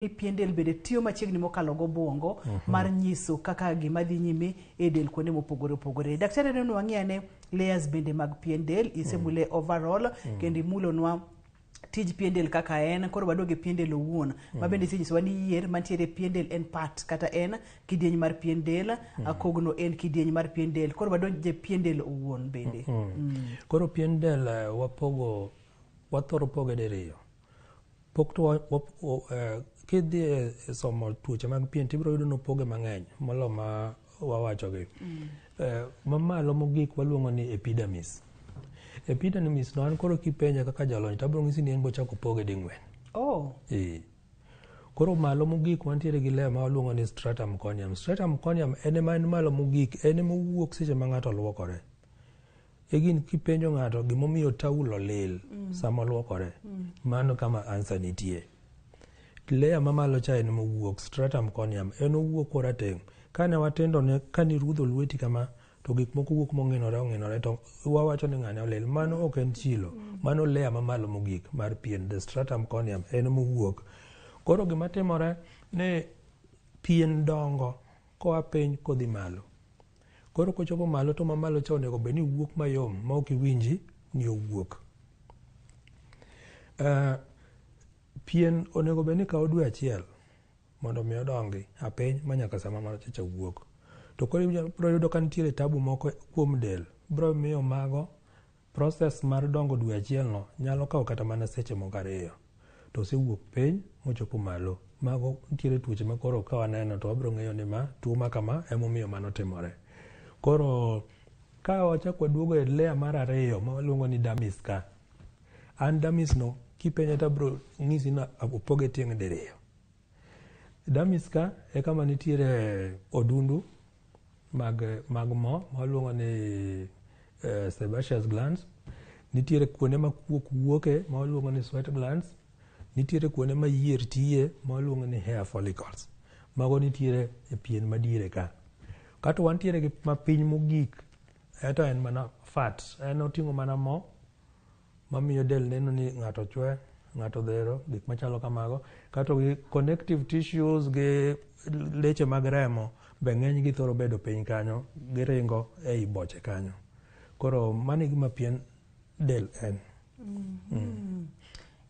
ni pien del bende tiyo machiegni mokalo gobwongo uh mhm. -huh. mar nyiso kaka gima dhi nyime e del kuonde mopogore opogore. Daktari neno wang'e ane layers bende mag pien del isemule uh mhm. -huh. overall uh mhm. -huh. kendo imulonwa tij pien del kaka en koro waduog e pien del owuon mm. ma bende isenyisowa ni yier mantiere e pien del en part kata en kidieny mar pien del mm. akogno en kidieny mar pien del koro wadonje pien del owuon bende mm. Mm. koro pien del eh, wapogo wathoro poge diriyo Pok to kidhi e somo tuoche mag pien to ibiro yudo ni opoge mang'eny molo ma wawachogi. Mm. Eh, mamalo mogik waluongo ni epidermis. Epidermis no an koro kipenja kaka jalony to abiro ng'isi ni en bochako poge ding'wen. Oh. Eh. Koro malo mogik wantiere gi layer ma waluongo ni stratum corneum. Stratum corneum en ema en malo mogik, en ema owuok seche ma ng'ato luokore. Egin kipenjo ng'ato gimomiyo taulo lil mm. sama olwokore, mm. mano kama ansa nitie. Leya mamalo cha en mowuok, stratum corneum, en owuok korateng'. Kane watindo ne kane irudho lweti kama, to gik moko wuok mong'inore ong'inore to wawacho ni ng'ane olil. Mano ok en chilo, mm. mano leya mamalo mogik mar pien, the stratum corneum, en mowuok. Koro gima timore ni pien dongo koa piny kodhi malo. Koro kochopo malo to mamalo cha onego bed ni wuok mayom ma ok iwinji ni owuok. Uh, pien onego bed ni kawo dwe achiel mondo mi odongi apiny ma nyaka sama malo cha wuok. To koro ibiro yudo ka nitiere tabu moko kuom del biro miyo mago Process mar dongo dwe achielno nyalo kawo kata mana seche moko ariyo to osewuok piny mochopo malo. Mago nitiere tuoche ma koro ka waneno to wabiro ng'eyo ni ma tuo ma kama emomiyo mano timore. Koro ka wachak waduogo e layer mar ariyo ma waluongo ni dermis ka, an dermis no kipenja to abiro ng'isi ni opoge tieng' diriyo. Dermis ka e kama nitiere odundu mag, mag mo ma waluongo ni eh, sebaceous glands nitiere kuonde ma kuok wuoke ma waluongo ni sweat glands nitiere kuonde ma yier tiye ma waluongo ni hair follicles mago nitiere e pien madiere ka kato wantiere gi mapiny mogik eto en mana fat en oting'o mana mo mamiyo del neno ni ng'ato chwe ng'ato dhero gik machalo kamago kato gi connective tissues gi leche mag remo be ng'eny gi thoro bedo piny kanyo giringo ei boche kanyo koro mani gima pien del en mm. mm.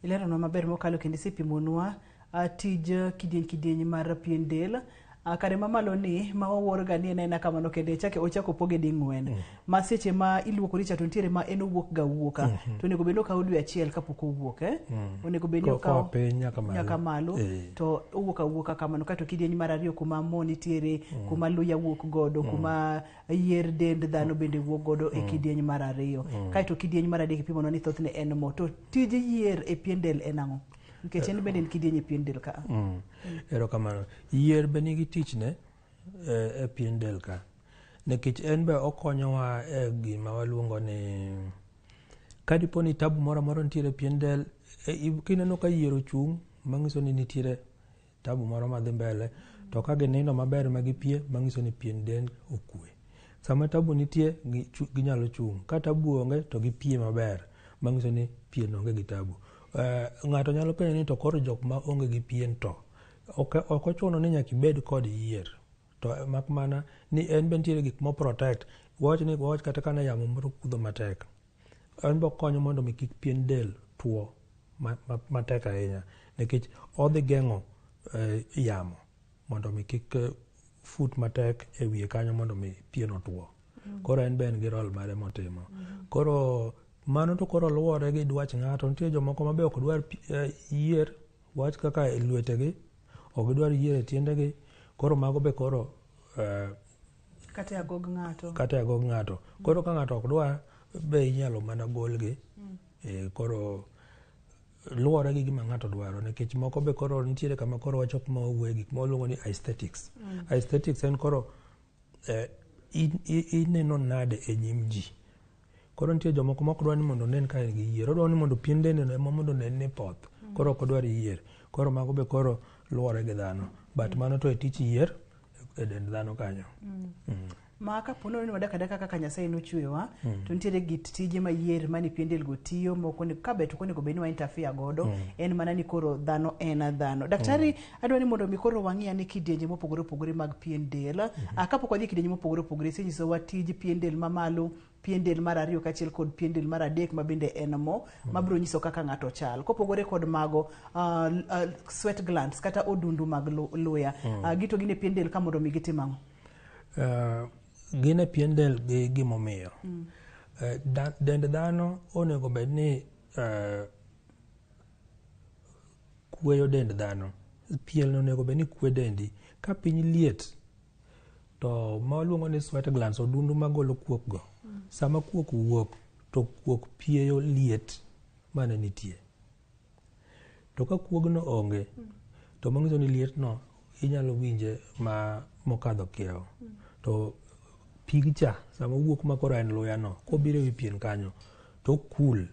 ileronwa maber mokalo kendo isepimonwa A tij kidieny kidieny mar pien del a kare mamalo ni ma waworga ni en aena kamano kende chake ochako opoge ding'wen mm. ma seche ma iluokori cha to nitiere ma en owuok ga wuoka mm -hmm. to onego bed ni okawo dwe achiel kapok owuok eh? mm. onego bed ni okawo piny nyaka malo e. to owuok awuoka kamano kato kidieny mar ariyo kuma mo nitiere mm. kuma luya wuok godo mm. kuma yier dend dhano bende wuok godo mm. e kidieny mar ariyo mm. kaeto kidieny mar adek ipimono ni thothne en mo to tij yier e pien del en ang'o Nikech en bende en kidieny e pien del ka. Mm. Erokamano. Yier be nigi tichne e, e pien del ka. Nikech en be okonyowa e gima waluongo ni kadipo ni tabu moro amora nitiere e pien del e, kineno ka yier ochung' mang'iso ni nitiere tabu moro madhi mbele to ka ginindo maber ma gipie mang'iso ni pien del okue sama tabu nitie ginyalo chung' ka tabu onge to gipie maber mang'iso ni pien onge gi tabu eh, ng'ato nyalo penjo ni to koro jok ma onge gi pien to ok ochuno ni nyaka ibed kod yier to eh, mak mana ni en be nitiere gik mo protect wawach ni wawach kata kana yamo moro kudho matek En be okonyo mondo mi kik pien del tuo matek ahinya nikech odhi geng'o eh, yamo mondo mi kik eh, fut matek e wiye kanyo mondo mi pien otuo. Mm. Koro en be en gi rol mare motimo. Mm. Koro mano to koro luwore gi dwach ng'ato. Nitie jomoko ma be ok dwar eh, yier wach kaka e lwetegi, ok dwar yier e tiendegi. Koro mago be koro kata e agog ng'ato kata e agog ng'ato koro ka ng'ato ok dwa be inyalo mana golgi mm. e, koro luwore gi gima ng'ato dwaro nikech moko be koro nitiere kama koro wacho kuma owuoye gik ma waluongo ni aesthetics mm. aesthetics en koro eh, ineno nade e nyim ji Koro nitie jomoko ma ok dwar ni mondo onen ka en gi yier. Odwaro ni mondo pien dendeno ema mondo onen ni poth. Koro ok odwar yier. Koro mago be koro luwore gi dhano. But mano to e tich yier e dend dhano kanyo. Ma ka po nono ni wadak adaka kaka Nyasaye nochweyowa, to nitiere git tije ma yier ma ni pien delgo tiyo, moko ni- ka be to ok onego bed ni wa interfere godo. En mana ni koro dhano en dhano. Daktari, Adwa ni mondo mi koro wang'i ane kidienje mopogore opogore mag pien del. Mm -hmm. Ah, kapok wadhi kidienje mopogore opogore, isenyisowa tij pien del mamalo, pien del mar ariyo kachiel kod pien del mar adek ma bende en mo mm. ma biro nyiso kaka ng'ato chal. Kopogore kod mago uh, uh, sweat glands kata odundu mag luya mm. uh, gito gin e pien del ka mondo mi gitim ang'o? Uh, gin e pien del gi gimomiyo. Mm. Uh, da, dend dhano onego bed ni uh, kueyo dend dhano. Pielni onego bed ni kwe dendi. Ka piny liet to ma waluongo ni sweat glands odundu magolo kuok go. Mm. Sama kuok wuok to kuok pieyo liet mane nitie. To ka kuogno onge mm. to manyiso ni liet no inyalo winje ma mokadho kiewo. Mm. To pigcha sama wuok makoro en luya no kobiro e wi pien kanyo to cool.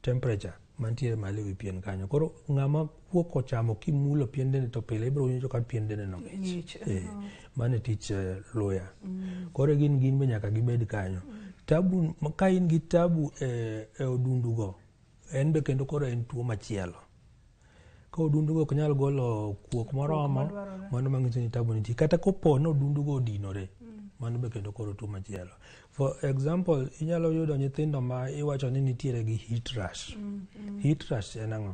temperature mantiere malo ewi pien kanyo koro ng'ama kuok ochamo kimulo pien dende to pile ibiro winjo ka pien dende no ng'ich eh, uh-huh. mano e tich eh, luya mm. koro gin gin be nyaka gibed kanyo tabu ka in gi tabu e, e odundugo en be kendo koro en tuo machielo ka odundugo ok nyal golo kuok moromo mano manyiso ni tabu nitie kata kopo ni odundugo odinore mano be kendo koro tuo machielo for example inyalo yudo nyithindo ma iwacho ni nitiere gi heat rush mm, mm. heat rush en ang'o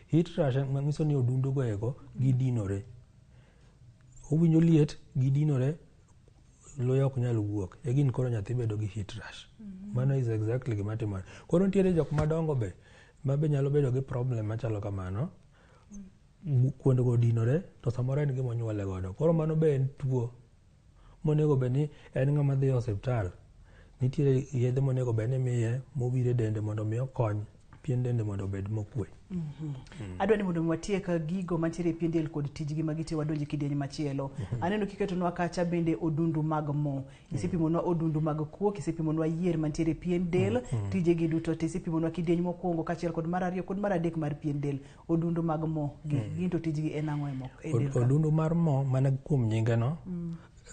heat rush manyiso ni odundugo ego gidinore owinjo liet gidinore luya ok nyal wuok e gin koro nyathi bedo gi heat rash mhm. mano is exactly gima timore koro nitiere jok madongo be ma be nyalo bedo gi problem machalo kamano mm. kuondego odinore to samoro en gima onyuole godo koro mano be en tuo monego bed ni en ng'ama dhi e osiptal nitiere yedhe monego bed ni miye mowire dende mondo mi okony pien dende mondo obed mokwe. adwa ni mondo mi watiek gigo mantiere e pien del kod tijgi ma gitiyo wadonje kidieny machielo aneno kiketonwa kacha bende odundu mag mo isepimonwa odundu mag kuok isepimonwa yier mantiere e pien del tijegi duto te isepimonwa kidieny mokwongo kaachiel kod mar ariyo kod mar adek mar pien del odundu mag mo gi gin to tijgi en ang'o e mo e del Od- ka? Odundu mar mo mana kuom nyingeno.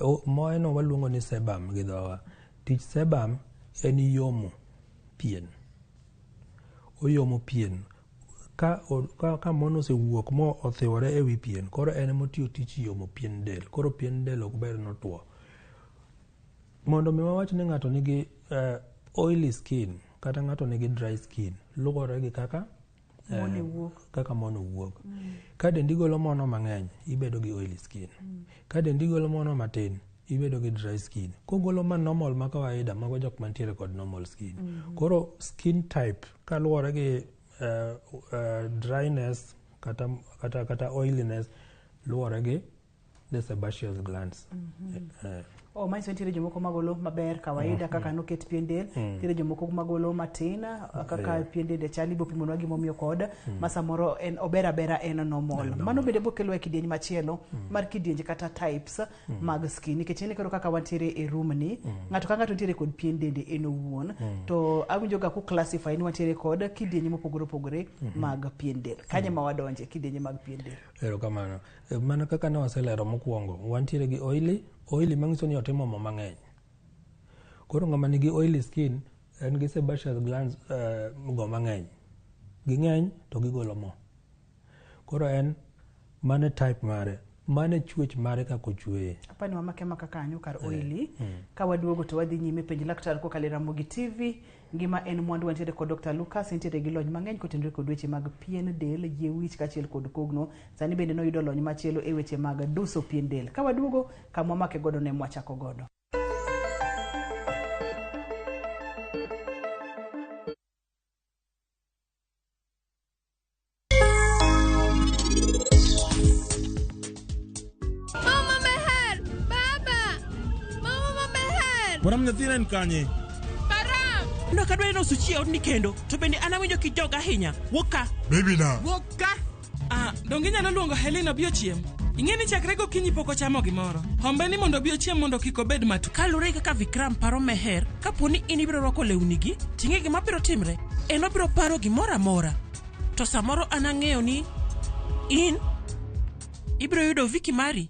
O- Moeno waluongo ni sebum gi dhowa. Tich sebum en yomo pien. Oyomo pien ka, ka, ka mon osewuok mo othiwore e wi pien, koro en ema otiyo tich yomo pien del. Koro pien del ok ber notwo. Mondo mi wawach ni ng'ato nigi uh, oily skin kata ng'ato nigi dry skin luwore gi kaka eh, kaka mono wuok mm. ka dendi golo mono mang'eny ibedo gi oily skin mm. ka dendi golo mono matin ibedo gi dry skin kogolo ma normal ma kawaida mago jok mantiere kod normal skin mm -hmm. koro skin type kaluwore gi uh, uh, dryness kata, kata, kata oiliness luwore gi The sebaceous glands. Eh, Oh, manyiso ni nitiere jomoko magolo maber kawaida kaka noket pien del nitiere jomoko magolo matin kaka Yeah. pien dende chal ibo pimonwa gimomiyo kod ma samoro en ober abera en normal mano bende bokelowa e kidieny machielo mar kidienje kata types mag skin nikech ine koro kaka wantiere e room ni ng'ato ka ng'ato nitiere kod pien dende en owuon to awinjoga ku classify ni wantiere kod kidienje mopogore opogore mag pien del kanye ma wadonje kidienje mag pien del Erokamano. E, mana kaka ne waselero mokwongo, wantiere gi oily, oily manyiso ni otimo mo mang'eny. Koro ng'ama nigi oily skin en gi sebaceous glands uh, go mang'eny. Ging'eny to gigolo mo. Koro en mane type mare mane chuech mare kaka ochueye apani wamake maka kanyo kar eh, oili mm. ka waduogo to wadhi nyime penj laktar kokalo e ramogi tv Ngima en mwandu wantiere kod Dr. Lucas entiere gi lony mang'eny kotenore kod weche mag pien del, yie wich kachiel kod kogno. Sani bende noyudo lony machielo e weche mag duso pien del. Ka waduogo kama wamake godo ne mwachako godo. Mama Meher! Baba! Mama ma Meher! Param nyathina en kanye? Param! Ndakadwari nosuchie odni kendo, to bende an awinjo kijoga ahinya. Wuok ka! Baby na. Wuok ka! Ah, donge inyalo luongo Helen obi ochiem? Ing'e ni chakre gokinyi pok ochamo gimoro. Hombe ni mondo obi ochiem mondo kik obed matu. Kalure kaka Vikram paro Meher, kapo ni in ibiro rwako lewnigi, ting'e gima biro timre. En obiro paro gimoro amora. To samoro an ang'eyo ni in ibiro yudo Viki mari.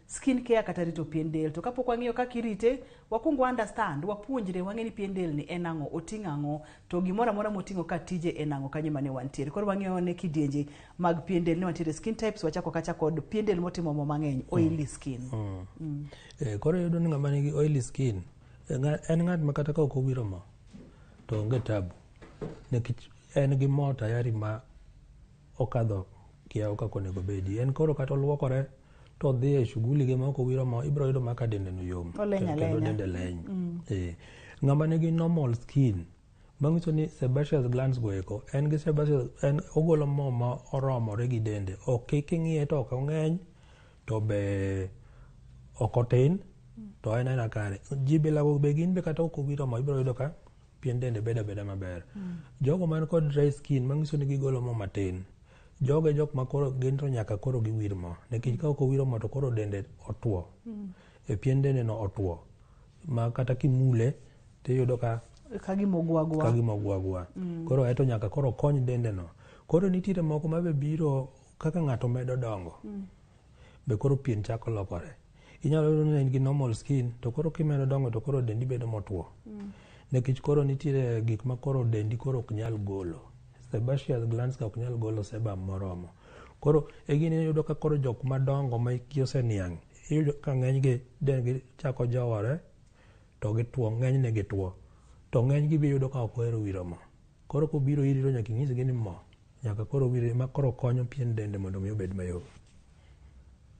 Skin care kata rito pien del. To kapok wang'eyo kaka irite, wakwong wa understand, wapuonjre, wang'e ni pien del ni en ang'o, oting'o ang'o, to gimoro amora moting'o ka tije en ang'o, kanyo ema ne wantiere. Koro wang'eyo ane kidienje mag pien del ni wantiere skin types, wachako akacha kod pien del motimo mo mang'eny, oily skin. Eh, koro iyudo ni ng'ama nigi oily skin eh, ng'a- en ng'at ma kata ka ok owiro mo to onge tabu nikech en gi mo tayari ma okadho kiawo kaka onego obedi en koro kata oluokore to odhi e shughuli ge maok owiro mo ibiro yudo maka dende no yom kendo dende leny mm. eh. ng'ama nigi normal skin manyiso ni sebaceous glands go eko en gi sebaceous en ogolo mo ma oromore gi dende ok king'iye to ok ong'eny to be ok otin to en aina kare jibilago be gin be kata ok owiro mo ibiro yudo ka pien dende bedo abeda maber. Mm. Jogo man kod dry skin manyiso ni gigolo mo matin. Jogo e jok ma koro gin to nyaka koro giwir mo. Nikech ka ok owiro mo to koro dende otuo. Mm. E pien dende no otuo. Ma kata kimule tiyudo ka kagimogwagwa. Kagimogwagwa. Mm. Koro eto nyaka koro kony dende no. Koro nitiere moko ma be biro kaka ng'ato medo dongo. Mm. Be koro pien chako lokore. Inyalo yudo ni in gi normal skin to koro kimedo dongo to koro dendi bedo motwo. Mm. Nikech koro nitiere gik ma koro dendi koro ok nyal golo. Sebaceous glands ka ok nyal golo sebum moromo. Koro e gini iyudo ka koro jok madongo ma hikgi oseniang' iyudo ka ng'enygi dendgi chako jowore to gitwo ng'enyne gitwo to ng'enygi be iyudo ka ok ohero wiro mo koro kobiro iri to nyaka inyisgi ni mo nyaka koro owire ma koro konyo pien dende mondo mi obed mayom.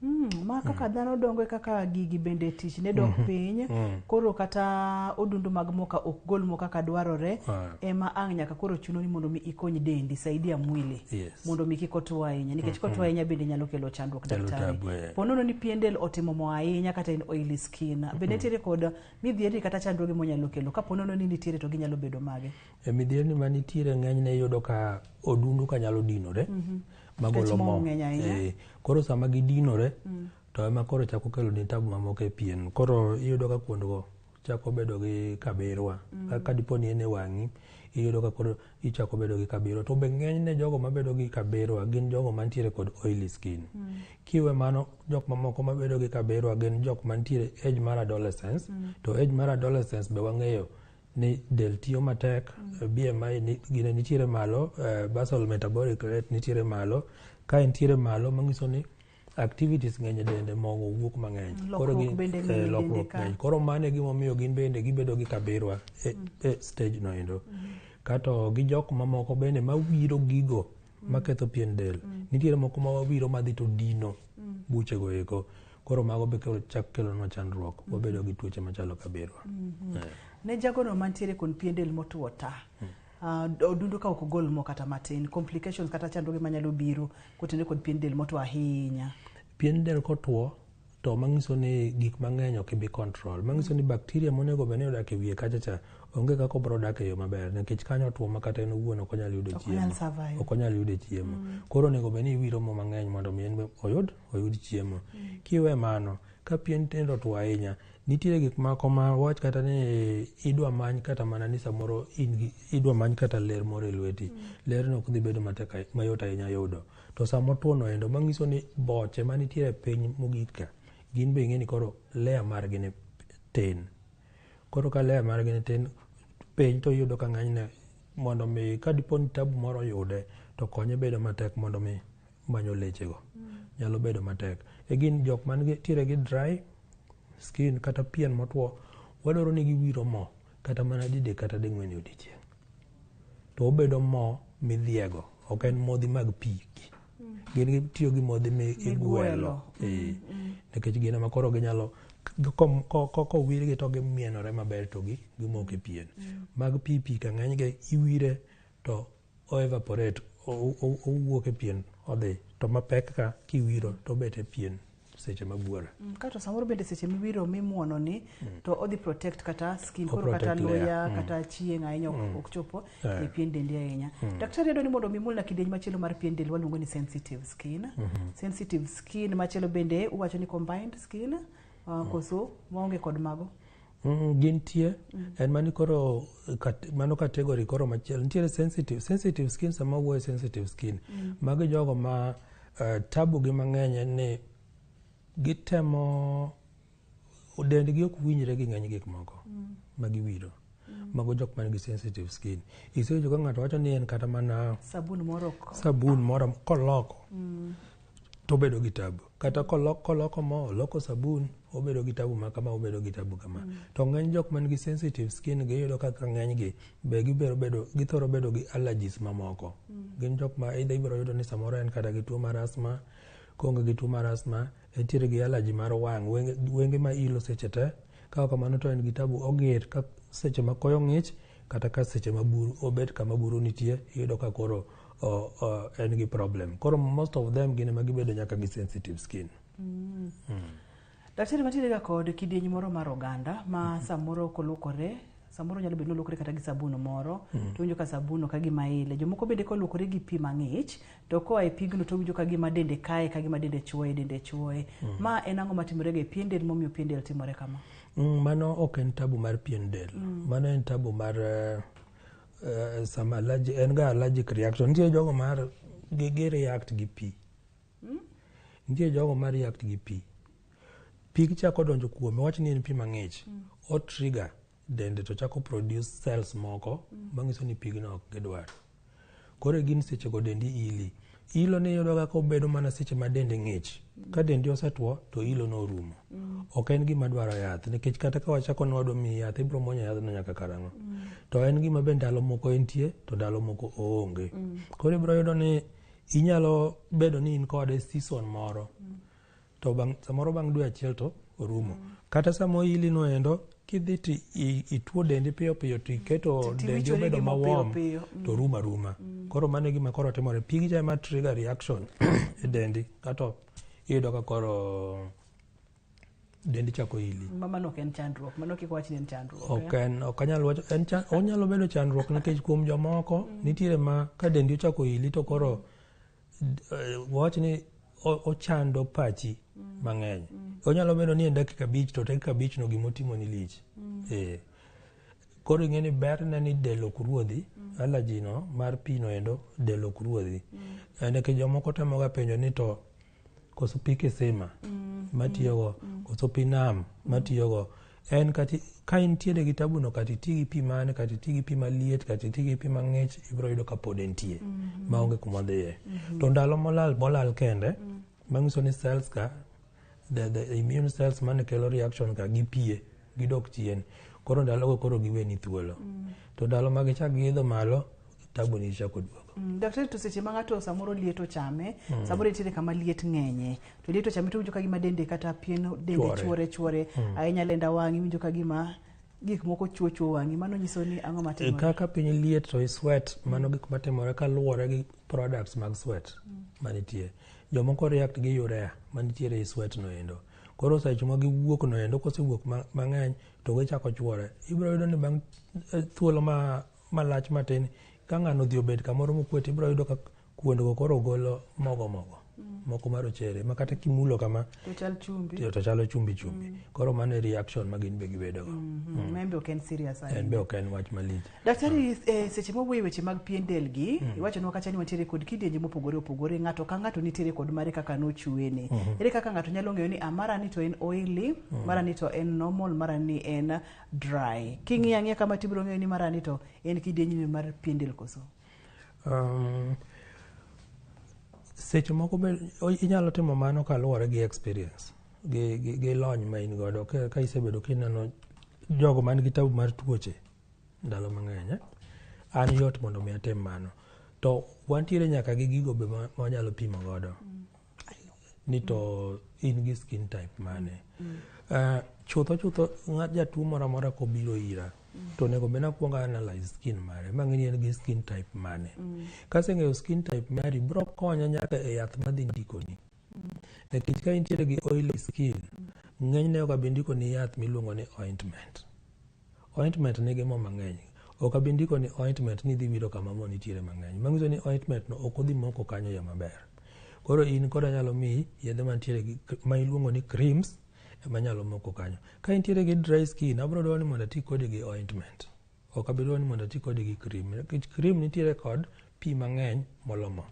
Mm, ma kaka mm. dhano dongo e kaka gigi bende tich ne dok mm -hmm. piny mm. koro kata odundu mag moka ok gol mo kaka dwarore ah. ema ang' nyaka koro chuno ni mondo mi ikony dendi saidia mwili yes. mondo mi kik otwo ahinya nikech mm -hmm. kotwo ahinya bende nyalo kelo chandruok daktari eh. ponono ni pien del otimo mo ahinya kata en oily skin bende mm -hmm. nitiere kod midhieri kata chandruoge monyalo kelo ka ponono ni nitiere to ginyalo bedo mage E midhierni ma nitiere ng'enyne iyudo ka odundu ka nyalo dinore mhm. magolo mo. Eh, koro sama gidinore mm. to ema koro chako kelo ni tabu mamoko e pien. Koro iyudo ka kuondgo chako bedo gi kabirwa. Mm. Ka dipo ni en e wang'i iyudo ka koro ichako bedo gi kabirwa. To be ng'enyne jogo mabedo gi kabirwa gin jogo mantiere kod oily skin. Mm. Kiwe mano jok mamoko mabedo gi kabirwa gin jok mantiere age mar adolescence. To age mar adolescence be wang'eyo ni del tiyo matek, BMI ni- gine nitiere malo, eh, basal metabolic rate nitiere malo. Ka entiere malo manyiso ni activities ng'eny e dende mogo wuok mang'eny. Lokruok gin- bende ng'eny e eh, dende lokruok ka. ng'eny. Koro mano e gimomiyo gin bende gibedo gi kabirwa e, e stage no endo. Kato gi jok mamoko bende mawiro gigo maketho pien del. Nitiere moko ma wawiro madhi to dino buchego eko. koro mago be chak kelonwa chandruok mm-hmm. wabedo gi tuoche machalo kabirwa mm-hmm. eh. ne jagono mantiere kon pien del motuo ta mm. ah, odundu ka ok ogol mo kata matin complications kata chandruoge manyalo biro kotende kod pien del motuo ahinya pien del kotuo to manyiso ni gik mang'eny ok ibi control manyiso ni bakteria monego bed ni odak e wiye kacha cha onge kaka obro dak e yo maber nikech kanyo otuo ma kata en owuon ok onyal yudo chiemo ok onyal yudo chiemo mm. koro onego bed ni iwiro mo mang'eny mondo mi en oyud oyud chiemo. Kiwe mano, ka pien tendo otwo ahinya, nitiere gik moko ma wach kata ni idwa many kata mana ni samoro in gi- idwa many kata ler moro e lweti. Lerno ok dhi bedo matek ahi- mayot ahinya yudo. To sama otwono endo, mang'iso ni boche manitiere e piny mogik ka, gin be ing'e ni koro layer margi ni tin. Koro ka layer margi ni tin, piny to iyudo ka ng'enyne mondo mi ka dipo ni tabu moro oyude, to konye bedo matek mondo mi manyo lechego nyalo bedo matek e gin jok man tiere gi dry skin kata pien motwo wadwaro ni giwiro mo kata mana dide kata ding'wen e odiechieng' to obedo mo midhiego ok en modhi mag pi gin gitiyo gi modhi migwelo eh, nikech gin ema koro ginyalo kowirgi to gimienore maber to gimoke pien mm. mag pi pi ka ng'enygi iwire to o evaporate owuok e pien odhi to mapek ka kiwiro to obet e pien seche ma buora. Mm, kato samoro bende seche miwiro mimuono ni mm. to odhi protect kata skin koro kata luya mm. kata chieng' ahinya mm. ok chopo yeah. e pien dendi ahinya. Mm. Daktari yadwa ni mondo mi mulna kidieny machielo mar pien del waluongo ni sensitive skin. Mm -hmm. Sensitive skin machielo bende uwacho ni combined skin uh, mm. koso maonge kod mago. Mm, gintie mm. en mani koro kat, mano category koro machielo nitiere sensitive sensitive skin sama wuoye sensitive skin mm. magi jogo ma uh, eh, tabu gi mang'eny en ni gitemo dendgi ok winjre gi ng'eny gik moko mm. ma giwiro mm. mago jok man gi sensitive skin isewinjo ka ng'ato wacho ni en kata mana sabun moro sabun moro koloko mm. to obedo gi tabu kata koloko, koloko mo oloko sabun obedo gi tabu ma kama obedo gi tabu kama mm. to ng'eny jok man gi sensitive skin gi yudo kaka ng'eny gi be gibero bedo githoro bedo gi allergies mamoko mm. gin jok ma either ibiro yudo ni samoro en kata gi tuo mar asthma konge gi tuo mar asthma entiere gi allergy mar wang' wenge, wenge ma ilo seche te kaka kamano to en gi tabu oger ka seche ma koyo ng'ich kata ka seche ma buru obet kama buru nitie iyudo ka koro uh, uh, en gi problem koro most of them gin ema gibedo nyaka gi sensitive skin mm. Mm. daktari matiere ga kod kidieny moro mar oganda ma mm -hmm. samoro kolukore samoro nyalo bedo nolokore kata gi sabun moro mm -hmm. to winjo ka sabun ka gima ile jomoko bende kolukore gi pi mang'ich to koa e pigno to winjo ka gima dende kae ka gima dende chuoye dende chuoye mm -hmm. ma en ang'o matimore ga e pien del momiyo pien del timore kama mm, mano ok en tabu mar pien del mm. mano en tabu mar uh, uh, some allergic, en ga allergic reaction nitie jogo mar gi, gi react gi pi hmm? nitie jogo ma react gi pi pi kichako donjo kuome wach ni en pi mang'ich mm. o trigger dende to chako produce cells moko mm. manyiso ni pigno ok gidwar koro gin sechego dendi ili Ilo ni yudoga ka obedo mana seche ma dendi ng'ich. Ka dendi osetwo to ilo no orumo. Mm. Ok en gima dwaro yath nikech kata ka wachako ni wadwa miyi yath ibiro mwonyo yadhno nyaka karang'o. Mm. To en gima be ndalo moko entie to ndalo moko oonge. Mm. Koro ibiro yudo ni inyalo bedo ni in kode season moro. Mm. to bang, samoro bang' dwe achiel to orumo mm. kata sama oyili no endo kidhi to ituo dendi piyo piyo to iketo dendi obedo mawom to mm. ruma ruma mm. koro mano e gima koro timore pigi cha ema trigger reaction e dendi kato iyudo ka koro dendi chako ili mano ok en chandruok mano kik wach ni en chandruok ok eh? en ok anyal wacho en chan, onyalo bedo chandruok nikech kuom jomoko mm. nitiere ma ka dendi ochako ili to koro Eh, wach ni ochando pachi mm. mang'eny mm. onyalo bedo ni en dakika abich to dakika abich no gima otimo ni lich mm. eh. koro ing'e ni berne ni del ok ruodhi mm. alaji no mar pi no endo del ok ruodhi mm. Eh, nikech jomoko temoga penjo ni to koso pi kisima mm. matiyogo mm. koso pi nam matiyogo mm. En kati ka intiere gi tabuno kata iti gi pi mane kata iti gi pi maliet kata iti gi pi mang'ich ibiro yudo ka pod entie mm -hmm. maonge kuma dhiye mm -hmm. to ndalo molal molal kende mm -hmm. manyiso ni cells ka the, the immune cells mane kelo reaction ka gipie gidok chien koro ndalogo koro giweni thuolo mm -hmm. to ndalo ma gichak giidho malo tabu ni chako duogo. Mm, daktari to seche ma ng'ato samoro liet ochame, mm. samoro nitiere kama liet ng'enye. To liet ochame to winjo ka gima dende kata pien dende chwore chwore, mm. ahinya lenda wang'i winjo ka gima gik moko chuo chuo wang'i mano nyiso ni ang'o matimore kaka piny liet to sweat mano gik matimore kaluwore gi products mag sweat mm. manitie jomoko react gi urea manitiere i sweat no endo koro seche ma giwuok no endo kosewuok mang'eny to gichako chwore ibiro yudo ni bang' eh, thuolo ma malach matin ka ng'ano odhi obet kamoro mokwe to ibiro yudo ka kuondgo koro golo mogo mogo mm. moko marochere ma kata kimulo kama to chalo chumbi chumbi mm. koro mano e reaction ma gin be gibedogo mm-hmm. mm. en be ok en wach malich daktari eh, seche mowuoyo weche mag pien del gi iwachonwa kacha ni wantiere kod kidienje mopogore opogore ng'ato ka ng'ato nitiere kod mare kaka nochuene mm-hmm. ere kaka ng'ato nyalo ng'eyo ni amara ah, ni to en oili mara ni to en normal mara ni en dry king'iyo ang'iya kama to ibiro ng'eyo ni marani to en kidienjni mar pien del koso um, seche moko be inyalo timo mano kaluwore gi experience gi, gi, gi lony ma in godo ka, ka isebedo kineno jogo man gi tabu mar tuoche ndalo mang'eny eh? an yot mondo mi atim mano to wantiere nyaka gi gigo be ma wanyalo pimo godo mm. ni to in gi skin type mane uh, chutho chutho ng'at jatuo moro amora kobiro ira to onego bed nakwongo analyze skin mare ma ng'eni en gi skin type mane kaseng'eyo skin type mari bro konya nyaka e yath madhi ndikoni nikech ka intiere gi oily skin ng'enyne ok abi ndikoni yath miluongo ni ointment Ointment nigi mo mang'eny. Ok abi ndiko ni ointment ni idhi wiro kama mo nitiere mang'eny. Manyiso ni ointment no ok odhi moko kanyo ya maber. Koro in koda nyalo miyi yedhe mantiere gi ma iluongo ni creams ema nyalo moko kanyo. Ka intiere gi dry skin, abro dwaro ni mondo ati kodi gi ointment. Ok abi dwaro ni mondo ati kodi gi cream. Nikech cream nitiere kod pi mang'eny molo mo.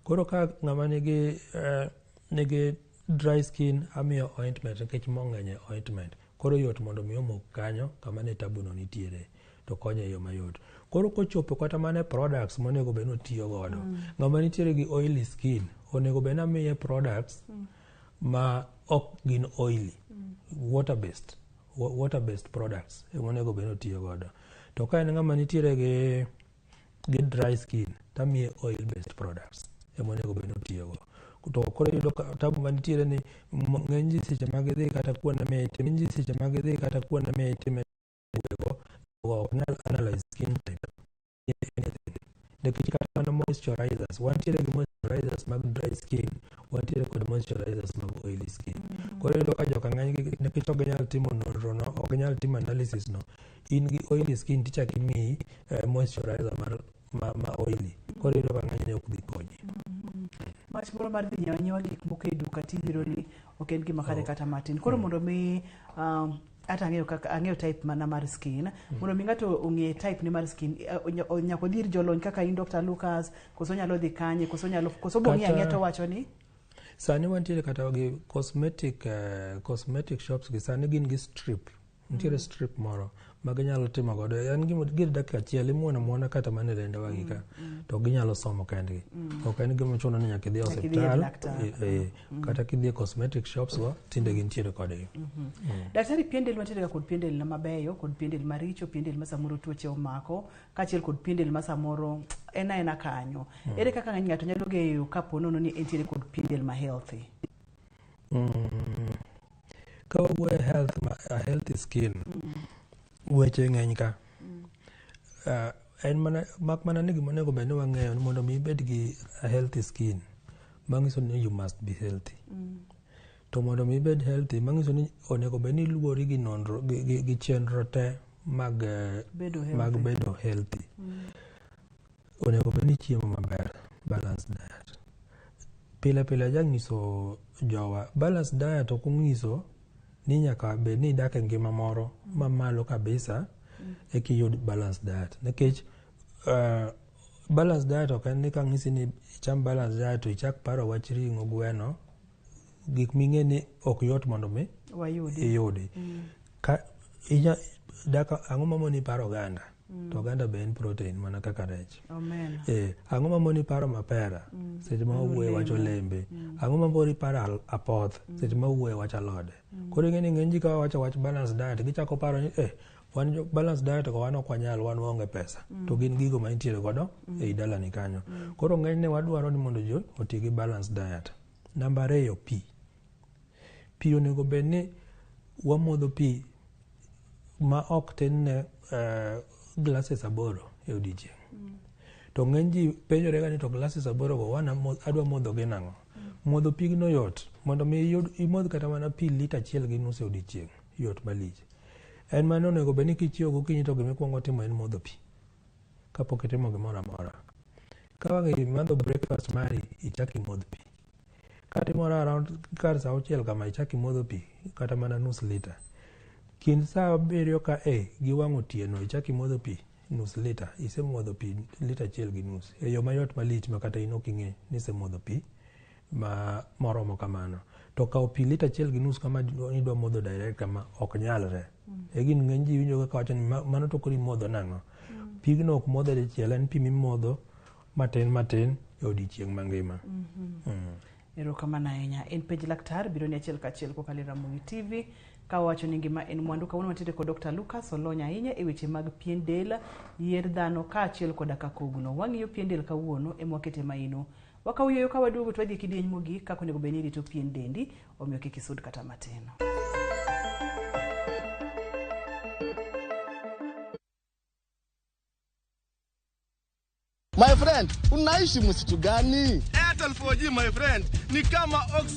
Koro ka ng'ama nigi, uh, nigi dry skin amiyo ointment nikech mo ng'eny e ointment. Koro yot mondo mi omok kanyo kama ne tabuno nitiere to konye e yo mayot. Koro kochopo kata mana e products monego bed ni otiyo godo. Mm. Ng'ama nitiere gi oily skin onego bed ni amiye products mm. ma ok gin oily, mm. water based, water based products ema onego bed ni otiyo godo. To ka en ng'ama nitiere gi gi dry skin tamiye oil based products ema onego obed ni otiyogo to koro iyudo tabu manitiere ni ng'eny ji seche mag idhi kata kuonde mitime ng'eny ji seche mag idhi kata kuonde mitime go ok nyal analyze skin type nikech kata mana moisturizers wantiere gi moisturizers mag dry skin wantiere kod moisturizers mag oily skin koro iyudo ka joka ng'eny nikech ok ginyal timo nonro no ok ginyal timo analysis no in gi oily skin tichak imiyi eh, moisturizer mar ma, ma oily koro iyudo ka ng'enyne ok dhi konyi wach moro mar dhi nyawa nyawa gik moko e duka tibiro ni ok en gima kare kata matin koro mondo mi um, ata ang'eyo kaka ang'eyo type mana mar skin mondo mi ng'ato ong'e type ne mar skin eh, onya- o- nyaka odhi ir jolony kaka in dr lucas koso onyalo dhi kanye koso onyalo koso bong'i Kata- ang'eya to wacho ni sani wantiere kata gi cosmetic eh, cosmetic shops gi sani gin gi strip nitiere strip moro ma ginyalo timo godo en gima gir dakika achiel imuon amuona kata mana e lendawa gi ka to ginyalo somo kendgi ok en gima chuno ni nyaka idhi e Nyaka idhi ir osiptal laktar. eh, eh, kata kidhi e cosmetic shops go tinde gintiere kodgi daktari pien del wantiere kod pien del na mabeyo kod pien del maricho pien del ma samoro tuoche omako kaachiel kod pien del ma samoro en aena kanyo ere kaka ng'eny ng'ato nyalo ng'eyo kapo nono ni entiere kod pien del ma healthy Mm, ka wawuoyo e health, ma, a healthy skin weche ng'eny ka Ah, en mana mak mana ni gima onego bed ni wang'eyo ni mondo mi ibed gi a healthy skin mang'iso ni you must be healthy to mondo mi ibed healthy mang'iso ni onego bed ni iluwori gi nonro gi, gi, gi chenro te mag eh, Bedo mag healthy. bedo healthy onego bed ni ichiemo maber, balanced diet. Pile pile ajanyiso jowa, balanced diet ok onyiso ni nyaka bed ni idak e ngima moro mamalo kabisa eka iyud balanced diet. Nikech uh, balanced diet ok en ni kang'isi ni icham balanced diet to ichak paro wach ring'o, gweno, gik ming'e ni ok yot mondo mi iyudi mm. ang'o mamoni paro oganda mm. to oganda be en protein mana kaka rech eh, ang'o mamoni paro mapera mm. seche ma owuoye wach olembe ang'o mamoni paro apoth seche ma owuoye wach alode koro ing'e ni ng'eny ji kawa wacho wach balance diet gichako paro ni eh wan jo balance diet ko wan ok wanyal wan waonge pesa mm. to gin gigo ma intiere godo mm. ei dalani kanyo mm. koro ng'enyne wadwaro ni mondo jo oti gi balance diet namba ariyo pi pi onego bed ni wamodho pi ma ok tin ne uh, eh, glasses aboro e odiechieng mm. to ng'eny ji penjore ga ni to glasses aboro go wan adwa modho gi nang'o mm. modho pigno yot mondo mi imodh kata mana pi lita achiel gi nus e odiechieng' yot malich. En mane onego bed ni kichiewo gokinyi to gima ikwongo timo en modho pi kapok itimo gimoro amora. Ka wang' imadho breakfast mari ichak imodh pi. Ka timoro around kar sa auchiel kama ichak imodho pi kata mana nus lita. Kind sa abiriyo ka e gi wang' otieno ichak imodho pi nus lita. Isemodho pi lita achiel gi nus e yo mayot malich ma kata in ok ing'e ni isemodho pi ma moromo kamano to kawo pi lita achiel gi nus kama idwa modho direct kama ok nyalre mm. e gin ng'eny ji winjo kaka wacho ni mano to koro imodho nang'o mm. pigno ok modho dichiel en pi mimodho matin matin e odiechieng' mangima mm-hmm. mm. erokamano ahinya en penj laktar biro ni achiel kachiel kokalo e ramogi tv ka wacho ni ngima en mwandu kawuono watiere kod dr lucas olony ahinya e weche mag pien del yier dhano kaachiel koda kakogno wang'iyo pien del kawuono emwakete maino Wakaw yueyo ka waduogo to wadhi e kidieny mogik kaka onego bed ni irito pien dendi, omiyo kik isud kata matin. My friend, unaishi msitu gani? Airtel 4G my friend ni kama ox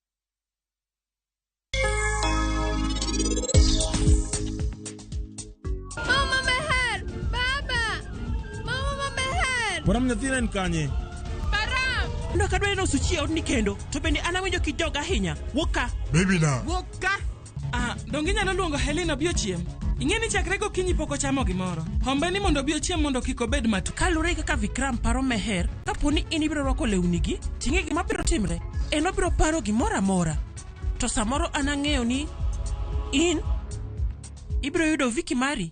Mama meher! Baba! Mama ma meher! Param nyathina en kanye? Param! Ndoka dwani nosuchie odni kendo, to bende an awinjo kijoga ahinya. Wuok ka! Baby na. Wuok ka! Ah, donge inyalo luongo Helen obi ochiem? Ing'e ni chakre gokinyi pok ochamo gimoro. Hombe ni mondo obi ochiem mondo kik obed matu. Kalure kaka Vikram paro Meher, kapo ni in ibiro rwako lewnigi, ting'e gima biro timre. En obiro paro gimoro amora. To samoro an ang'eyo ni in ibiro yudo Viki mari.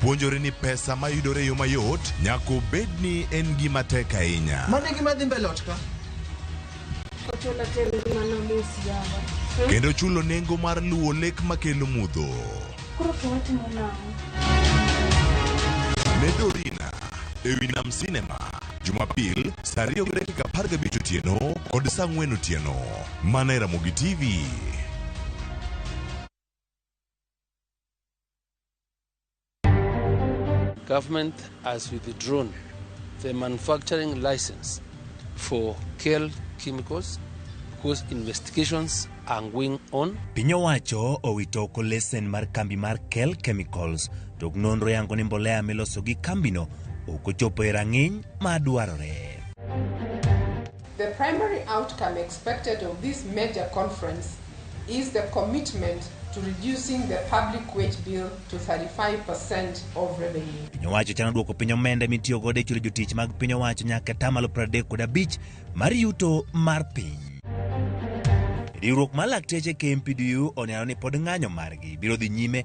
Puonjori ni pesa ma yudore e yo mayot nyaka obed ni en gima tek ahinya. Mano e gima dhi mbele ot ka. Ochola ter ngimana mos yawa. Kendo chulo nengo mar luwo lek makelo mudho. Koro to watimo nang'o? Ne Dorina e wi Nam Sinema Jumapil saa ariyo gi dakika apar gabich otieno kod saa ang'wen otieno mana e Ramogi TV. Government has withdrawn the manufacturing license for Kel Chemicals because investigations are going on. Piny owacho owito oko lesen mar kambi mar Kel Chemicals to nonro yango ni mbolea miloso gi kambino ok ochopo e rang'iny ma dwarore. The primary outcome expected of this major conference is the commitment to reducing the public wage bill to 35 per cent of revenue. Piny owacho chano duoko piny omenda mitiyo godo e chulo jotich mag piny owacho nyaka atamalo 30 kod abich mar yuto mar piny. Riwruok mar lakteche KMPDU oneno ni pod ng'anyo margi biro dhi nyime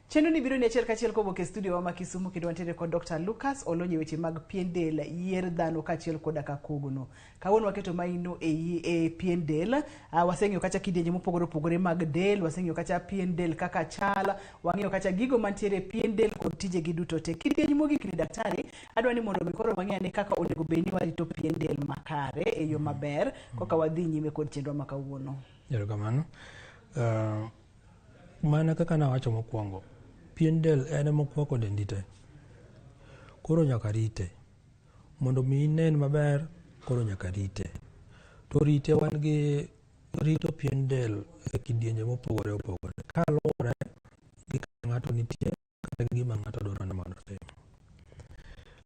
Chenro ni biro ni achiel kachiel kowuok e studio wa ma Kisumu kendo wantiere kod Dr. Lucas olonye weche mag pien del, yier dhano kachiel koda ka kogno. Kawuono waketo maino e, yi- e pien del, uh, waseng'iyo kacha kidienje mopogore opogore mag del, waseng'iyo kacha pien del kaka chal, wang'iyo kacha gigo mantiere e pien del kod tijegi duto te. Kidieny mogik ni daktari, adwa ni mondo mi koro wang'e ane kaka onego bed ni warito pien del makare e yo maber koka wadhi nyime kod chenro ma kawuono. Erokamano. Uh, Mana kaka nawacho mokwongo, pien del en ema okwako dendi te. Koro nyaka rite. Mondo mi inen maber, koro nyaka rite. To rite wan gi rito pien del e kidienje mopogore opogore. Kaluwore gi kaka ng'ato nitie, kata gima ng'ato dwaro ni mondo otim.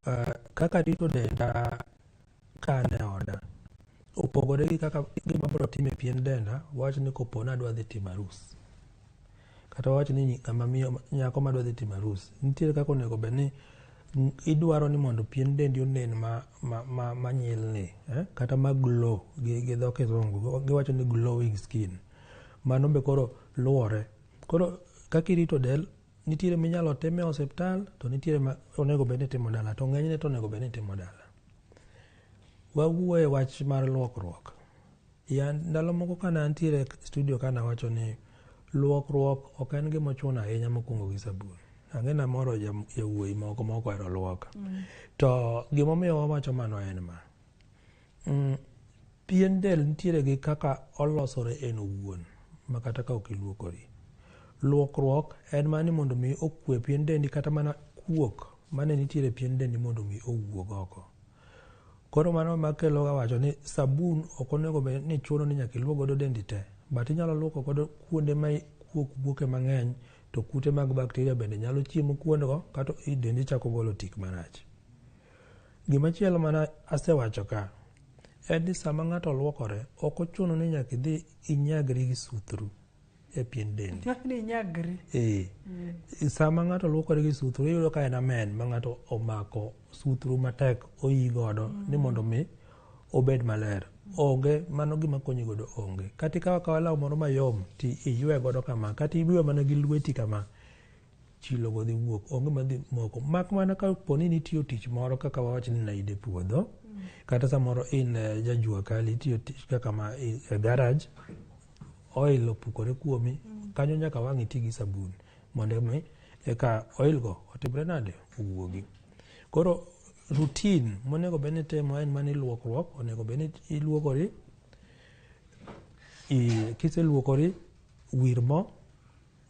Uh, kaka rito denda ka an e oda opogore gi kaka gima abro timo e pien denda wawach ni kopo ni adwa dhi timo arus kata wawach ni ng'ama miyo nyako madwa dhi timo arus nitiere kaka onego bed ni idwaro ni mondo pien dendi onen ma, ma, ma, ma nyilni eh? kata ma glow gi, gi dho kizungu giwacho ni glowing skin mano be koro luwore Koro kaka irito del, nitiere minyalo time osiptal to nitiere ma onego bed ni timo dala to ng'enyne to onego bed ni timo dala. Wawuoye wach mar luokruok. Ya ndalo moko kane antiere studio kane awacho ni luokruok ok en gima ochuno ahinya mokwongo gi sabun. Ang'e namoro jawuoyi moko mokwero luoka. Mm. To gimomiyo wawacho mano en ma. Mm, pien del nitiere gi kaka olosore en owuon makata ka ok iluokori. Luokruok en mana ni mondo mi okwe pien dendi kata mana kuok mane nitiere pien dendi mondo mi owuog oko. Koro mano ema kelo ga wacho ni sabun ok onego bed ni chuno ni nyaka iluok godo dendi te, but inyalo luoko godo kuonde ma kuok wuoke mang'eny to kute mag bakteria bende nyalo chiemo kuondgo kato dendi chako golo tik marach. Gima chielo mana asewacho ka en ni sama ng'ato luokore ok ochuno ni nyaka idhi inyagri gi suthru e pien dendi. Ee. Mm. Sama ng'ato luokore gi suthru iyudo ka en amen ma ng'ato omako suthru matek oyi godo mm. ni mondo mi obed maler. Onge mano gima konyi godo onge. Kata ikawa kawa law moro mayom ti iywe godo kama kata iywe mana gi lweti kama chilogo dhi wuok onge madhi moko mak mana ka po ni nitiyo tich moro kaka wawach ni naide puodho kata samoro in eh, jajua kali itiyo tich kaka ma i- e garage oil opukore kuomi kanyo nyaka wang' iti gi sabun mondo mi eka oil go otimre nade owuogi koro routine monego bed ni itimo en mana iluokruok onego bed ni iluokori i- kiseluokori wir mo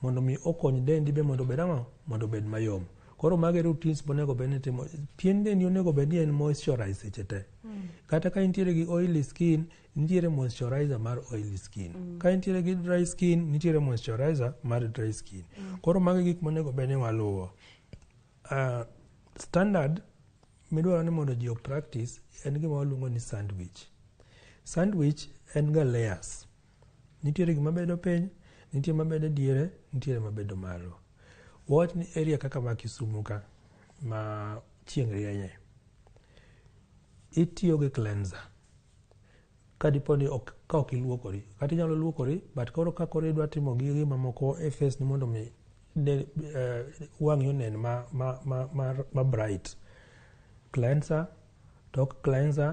Mondo mi okony dendi be mondo obed ang'o? Mondo obed mayom. Koro mago e routines monego bed ni timo. Pien dendi onego bed ni en moisturized seche te. Mm. Kata ka intiere gi oily skin, nitiere moisturizer mar oily skin. Mm. Ka intiere gi dry skin, nitiere moisturizer mar dry skin. Mm. Koro mago e gik monego bed ni waluwo. Uh, standard midwaro ni mondo ji o practice en gima waluongo ni sandwich. Sandwich en ga layers. Nitiere gima bedo piny, nitie mabedo diere, nitiere mabedo malo. Wawach ni area kaka ma Kisumu ka ma chieng' rienye, itiyo gi cleanser ka dipo ni ok, ka ok iluokori kata inyalo luokori but koro ka koro idwa timo gi gima moko e face ni mondo mi ne, uh, wang'i onen ma, ma, ma, ma, ma bright cleanser Tok cleanser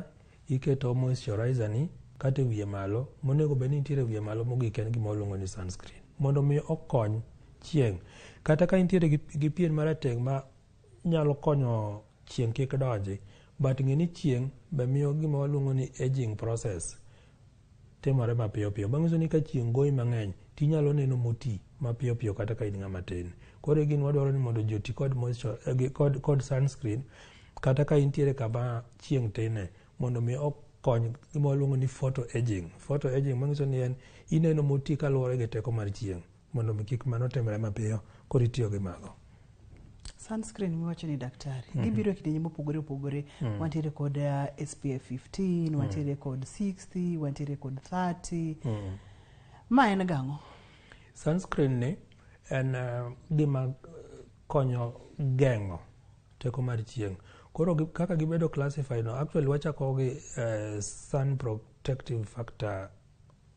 iketo moisturizer ni kata e wiye malo, monego bed ni nitiere e wiye malo mogik en gima waluongo ni sunscreen. Mondo mi okony chieng'. Kata ka intiere gi, gi pien marateng' ma nyalo konyo chieng' kik donji, but ng'e ni chieng' be miyo gima waluongo ni aging process. Timore mapiyo piyo. Manyiso ni ka chieng' goyi mang'eny to inyalo neno moti mapiyo piyo kata ka in ng'ama tin. Koro e gini wadwaro ni mondo ji oti kod moisture, eh, kod, kod sunscreen kata ka intiere kama chieng' tine mondo mi okony gima waluongo ni photo aging. Photo aging manyiso ni en ineno moti kaluwore gi teko mar chieng'. mondo mi kik mano timre mapiyo koro itiyo gi mago sunscreen miwacho ni daktari mm -hmm. gibiro e kidienje mopogore opogore mm -hmm. wantiere kod uh, eh, spf 15 mm. wantiere kod 60 wantiere kod 30 mm -hmm. ma en gang'o sunscreen ni en uh, gima konyo geng'o teko mar chieng' koro kaka gibedo classified no actually wachako gi uh, sun protective factor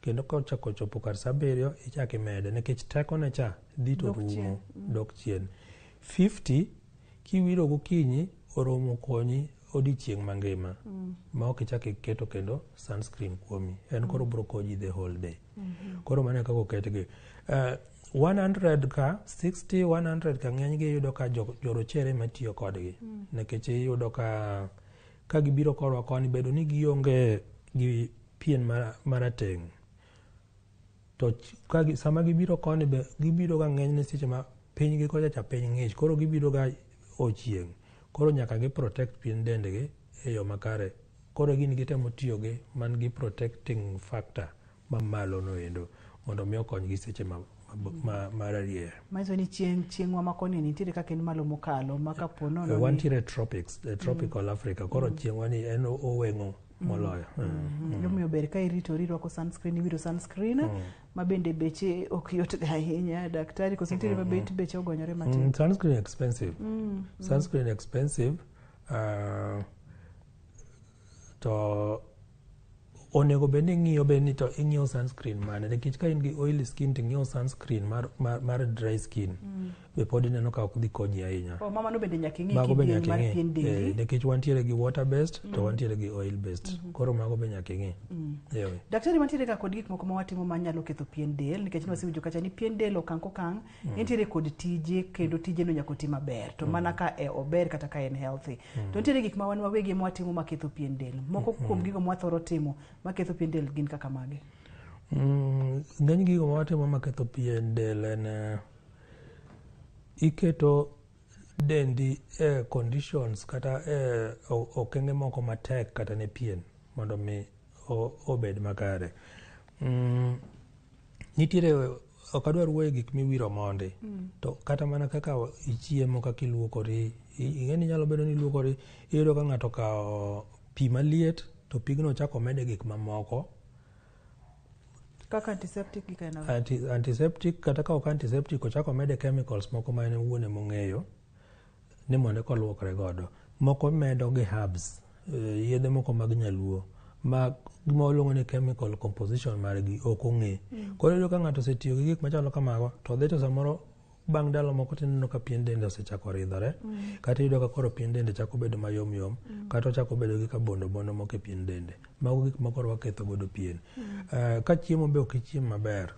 Kendo ka ochako ochopo kar sa abiriyo, ichak imede nikech tekone cha dhi to Dok rumo, chien. dok chien. 50, kiwiro gokinyi, oromo konyi odiochieng' mangima ma ok ichak iketo kendo sunscreen kuomi. En koro biro konyi the whole day. Koro mano e kaka oketgi. Eh, 100 ka, 60, 100 ka ng'enygi iyudo ka jo- jorochere ema tiyo kodgi. Nikech iyudo ka ka gibiro korwa koni, bedo ni gionge gi pien marateng' to sama gibiro koni be gibiroga ng'enyne seche ma pinygi kocha cha piny ng'ich koro gibiroga ochieng' koro nyaka gi protect pien dendgi e yo makare koro gini gitemo tiyo gi man gi protecting factor mamalo noendo mondo mi okonygi seche ma mararier manyiso ni chieng' chieng' wamako ni nitiere kaka en malo mokalo ma kapo nono eh, wantiere tropics eh, tropical mm. africa koro mm. chieng'wa ni en oweng'o moloyo mm. mm. mm. omiyo ber ka iritori irwako sunscreen iwiro sunscreen mm. ma bende beche ok yotga ahinya daktari koso nitiere ma bet beche ogonyore matin mm, sunscreen expensive mm. sunscreen expensive uh, to onego bed ni ing'iyo bed ni to ing'iyo sunscreen mane nikech ka in gi oily skin to ing'iyo sunscreen mar, mar, mar dry skin mm. be pod ineno ka ok dhi konyi ahinya. Oh, mama no bende nyaka ing'e mago be kidieny nyaka mar ing'e pien dendi. Eh, nikech wantiere gi water based to wantiere gi oil based koro mago be nyaka ing'e Ewe. Daktari mantiere ka kod gik moko ma watimo ma nyalo ketho pien del nikech mm. wasewinjo kacha ni pien del okang' kokang' nitiere kod tije kendo tijeno nyaka oti maber to mana ka e ober kata ka en healthy. To nitiere gik ma wan wawegi ema watimo ma ketho pien del. Moko kuom gigo ma wathoro timo ma ketho pien del gin kaka mage? Mm, ng'eny gigo ma watimo ma ketho pien del en eh, Iketo dendi e conditions kata e okenge moko matek kata ne pien mondo mi obed makare. Mm, nitiere ok adwar wuoye gik miwiro mondi mm. to kata mana kaka ichiemo kaka iluokori ing'e ni nyalo bedo ni iluokori iyudo ka ng'ato okawo pi maliet to pigno chako mede gik mamoko Kaka antiseptic gi kainago. Anti, antiseptic kata ka ok antiseptic ochako mede chemicals moko ma en owuon ema ong'eyo ni mondo eka olwokre godo. Moko medo gi herbs, eh, yedhe moko mag nyaluo ma gima waluongo ni chemical composition margi ok ong'e. Koro iyudo ka ng'ato osetiyo gi gik machalo kamago to dhi to samoro bang' ndalo moko tineno ka pien dende osechako ridhore mm. kata iyudo ka koro pien dende chako bedo mayom yom mm. kata ochako bedo gi ka bondo bondo moko e pien dende mago gik ma koro waketho godo pien mm. uh, ka chiemo be ok ichiem maber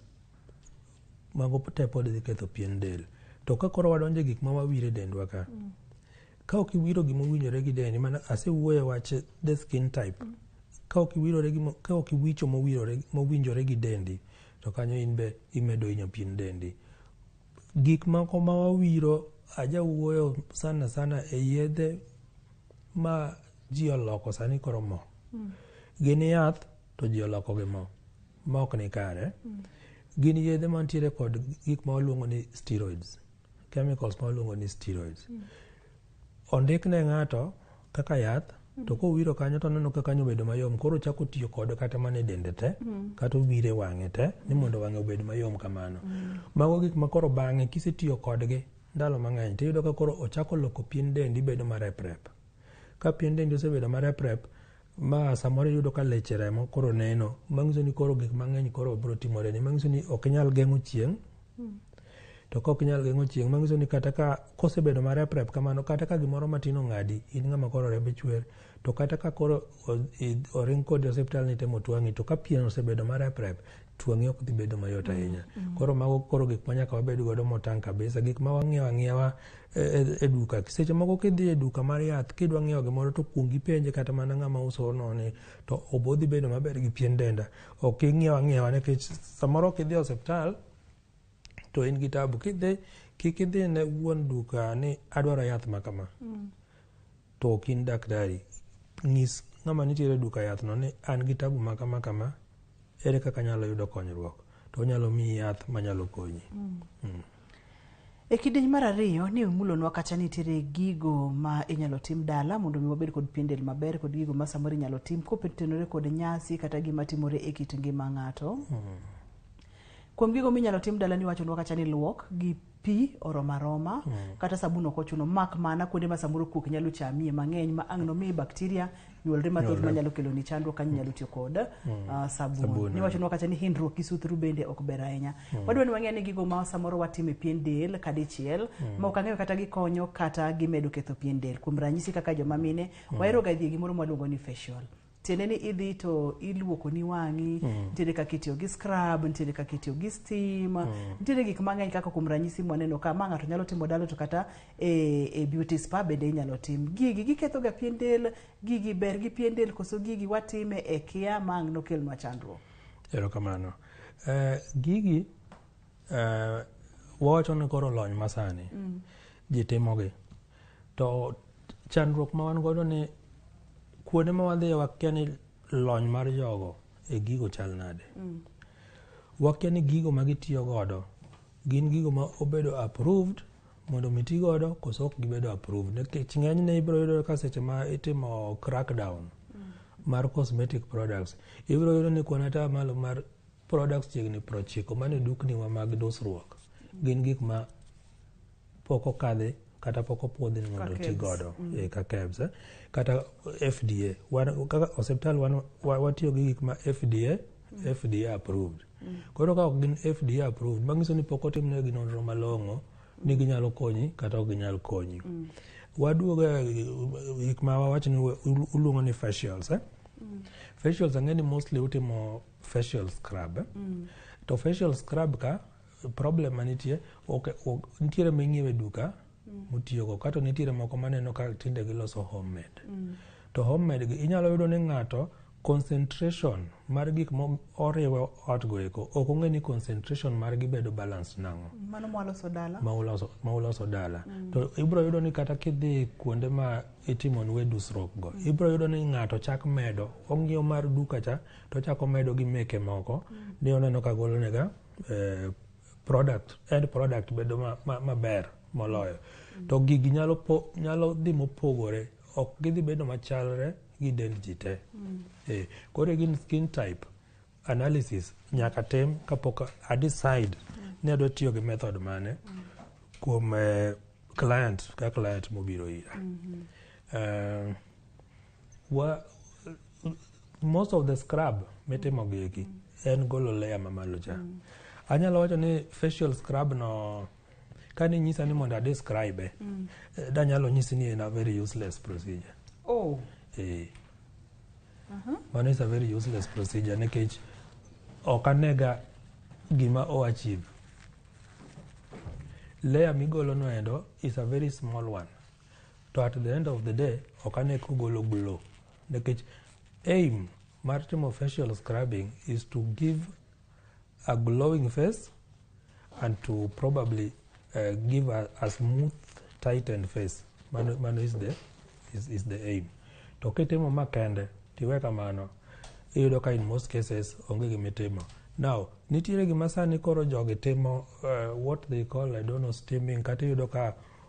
mago te pod dhi ketho pien del to ka koro wadonje gik ma wawire dendwa ka mm. Ka ok iwiro gima owinjore gi dendi, mana asewuoyo e wach the skin type. Ka ok iwirore gi ka ok iwicho mowirore mowinjore gi dendi, to kanyo in be imedo hinyo pien dendi. Gik moko ma wawiro ajawuoyo sana sana e yedhe ma ji oloko sani koro mo. Mm. Gin yath to ji oloko gi mo ma ok ni kare. Mm. Gin yedhe mantiere kod gik ma waluongo ni steroids. chemicals ma waluongo ni steroids mm. ondik ne ng'ato kaka yath mm. to kowiro kanyo to oneno ka kanyo obedo mayom koro chako tiyo kode kata mana e dende te mm. kata owire e wang'e te ni mondo wang'e obed mayom kamano mm. mago gik ma koro bang'e kisetiyo kodgi ndalo mang'eny tiyudo ka koro ochako loko pien dendi bedo mareprep Ka pien dendi osebedo mareprep ma samoro iyudo ka leche remo koro neno, manyiso ni koro gik mang'eny koro biro timoreni. Manyiso ni ok inyal geng'o chieng', to ka ok inyal geng'o chieng' manyiso ni kata ka kosebedo mareprep kamano kata ka gimoro matin ong'adi in ng'ama koro rembi chwer to kata ka koro oring kodi osiptal nitemo twang'i to ka pien osebedo mareprep twang'e ok dhi bedo mayot mm, ahinya. Mm. Koro mago koro gik ma nyaka wabed godo motang' kabisa, gik ma wang'iewo ang'iewa e, e, e duka. Seche moko kidhi e duka mar yath kidwa ng'iewo gimoro to kuong ipenje kata mana ng'ama uso noni to obo dhi bedo maber gi pien denda. Ok ing'iew ang'iewa nikech samoro kidhi e osiptal to in gi tabu kidhi kik idhi ne wuon duka ni adwaro yath ma kama mm. to ok in daktari nyis ng'ama nitiere duka yath no ni an gi tabu ma kama kama ere kaka nyalo yudo konyruok to onyalo miyi yath manyalo konyi mm. Mm. E kidieny mar ariyo ni imulonwa kacha nitiere gigo ma inyalo tim dala mondo mi wabed kod pien del maber kod gigo ma samoro inyalo tim kotenore kod nyasi kata gima timore e kit ngima ng'ato. Hmm. Kuom gigo minyalo tim dala ni wachonwa kacha ni luok gi pi oromo aroma mm. kata sabun ok ochuno mak mana kuonde ma samoro kuok nyalo chamie mang'eny ma ang' nomiyi bakteria nyuolre mathoth manyalo kelo ni chandruok kanyo nyalo tiyo kod mm. ah, sabun ni wachonwa kacha ni hindruok gi suthru bende ok ber ahinya mm. wadwa ni wang'e ni gigo ma samoro watimo e pien del kadichiel mm. ma ok ang'eyo kata gikonyo kata gimedo ketho pien del kuom ranyisi kaka joma mine waheroga dhi e gimoro mwaluongo ni facial tiende ni idhi to iluokoni wang'i mm. nitiere kaka itiyo gi scrub nitiere kaka itiyo gi steam mm. nitiere gik mang'eny kaka kuom ranyisi mwaneno ka ma ng'ato nyalo timo dalo to kata e, e beauty spa bende inyalo tim gigi gikethoga pien del gigi ber gi pien del koso gigi watime e kia ma ang' nokelnwa chandruok erokamano uh, gigi Uh, wawacho ni koro lony masani mm. ji timogi to chandruok ma wan godo ni kuonde ma wadhiye wakia ni lony mar jogo e gigo chal nade mm. wakia ni gigo ma gitiyo godo gin gigo ma obedo approved mondo mi ti godo koso ok gibedo approved nikech ng'enyne ibiro yudo ka seche ma itimo crackdown mm. mar cosmetic products ibiro yudo ni kuon ata malo mar Products chiegni 90 man e dukniwa mag dusruok gin gik ma pok okadhi kata pok opuodhi ni mondo oti godo mm. eh, ka KEBS eh. kata FDA kaka osiptal watiyo gi gik ma FDA mm. FDA approved mm. koro ka ok gin FDA approved manyiso ni pok otimnegi nonro malong'o ni ginyalo konyi kata ok ginyal konyi waduogo eh, gik ma wawacho ni uluongo ni facials eh? facials ang'e ni mostly utimo facial scrub eh? mm. to facial scrub ka problem manitie okay, ok, nitiere ming'iewe duka mm. mutiyogo kato nitiere moko maneno ka tinde giloso homemade mm. to homemade gi inyalo yudo ni ng'ato concentration mar gik moriwo otgo eko ok ong'e ni concentration margi bedo balance nang'o ma uloso dala mm. to ibro yudo ni kata kidhi kuonde ma itimon we dusruokgo mm. ibro yudo ni ng'ato chak medo ong'iew mar duka cha to ochako medo gi meke moko mm. ni oneno ka golonega eh, product end product bedo maber moloyo mm. to gigi nyalo, po, nyalo dhi mopogore ok gidhi bedo machalre gi dend ji te mm. eh, koro gin skin type analysis nyaka tem kapok a decide mm. ni adwa tiyo gi method mane mm. kuom eh, client ka client mobiro ira mm -hmm. uh, Wa, most of the scrub mitimo gi eki en golo layer mamalo cha mm. anyalo wacho ni facial scrub no kani nyisa ni mondo adescribe eh, mm. Eh, danyalo nyisi ni en a very useless procedure oh. eh. uh -huh. mano is a very useless procedure nikech ok anega gima o achieve layer migolo no endo is a very small one to at the end of the day ok ane kogolo glow nikech aim mar timo facial scrubbing is to give a glowing face and to probably uh, give a, a smooth tightened face mano, mano is, the, is, is the aim to kitimo makende tiwe kamano iyudo ka in most cases onge gimitimo now nitiere gima sani koro jogi timo uh, what they call i don't know steaming kata iyudo ka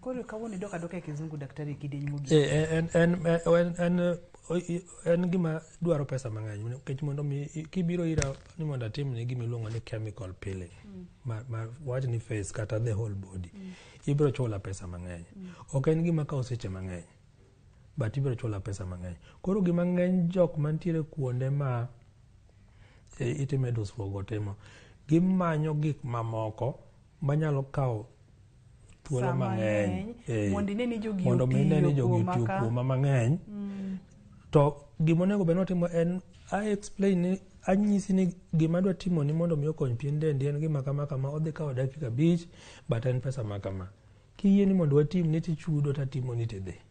Koro kawuono idok adoka e kizungu daktari e kidieny mogik. Eh, eh, en en eh, en en eh, o- i- en gima dwaro pesa mang'eny nikech mondo mi i- kibiro ira ni mondo atimni gima iluongo ni chemical peeling ma, ma wach ni face kata the whole body ibiro chula pesa mang'eny ok en gima kawo seche mang'eny but ibiro chula pesa mang'eny koro gima ng'eny jok mantiere kuonde ma e, itime dusruok otimo gimanyo gik mamoko manyalo kawo thuolo mang'eny mondo ine ni jogi mondo mi ine ni jogi otiyo kuoma mang'eny mm. to gima onego bed notimo en i explain ni anyisi ni gima adwa timo ni mondo mi okony pien dendi en gima kama kama odhi kawo dakika abich but en pesa ma kama kiyie ni mondo watim ni tichudo tatimoni tidhi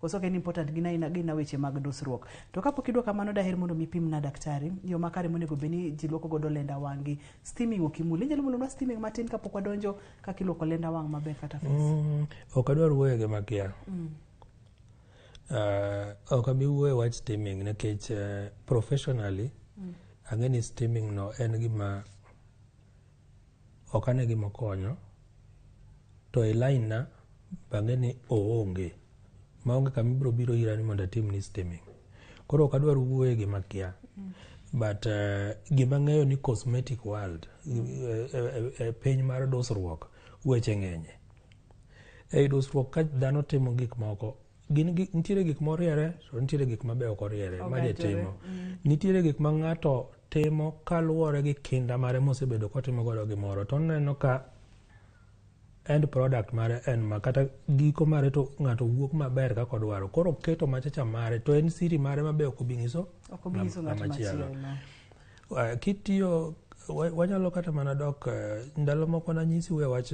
Koso ok en important gin aina gin na weche mag dusruok. To kapok idwa kamano daher mondo mi pimna daktari yo makare monego bed ni ji lwoko godo lenda wang'gi. Steaming ok imul. Inyalo mulonwa steaming matin kapok wadonjo kaka ilwoko lenda wang' maber kata face. Mm, ok adwar wuoyo gi makia. Mm. Uh, ok abi wuoyo wach steaming nikech uh, professionally mm. ang'e ni steaming no en gima ok ane gima okonyo to e line na bange ni oonge maonge kama ibiro biro ira ni mondo atim ni steaming koro ok adwar wuoye gima kia but uh, gima ng'eyo ni cosmetic world e, e, e, e piny mar dusruok weche ng'enye ei dusruok ka dhano timo gik moko gin nitiere gik moriere to nitiere gik mabe ok oriere ma jatimo mm. nitiere gik ma ng'ato timo kaluwore gi kinda mare mosebedo kotimo godo gimoro to oneno ka end product mare en ma kata giko mare to ng'ato wuok maber kaka odwaro koro keto machacha mare to en siri mare mabe ok obi nyiso machielo eh, kitiyo wanyalo kata mana dok eh, ndalo moko nanyisi we wach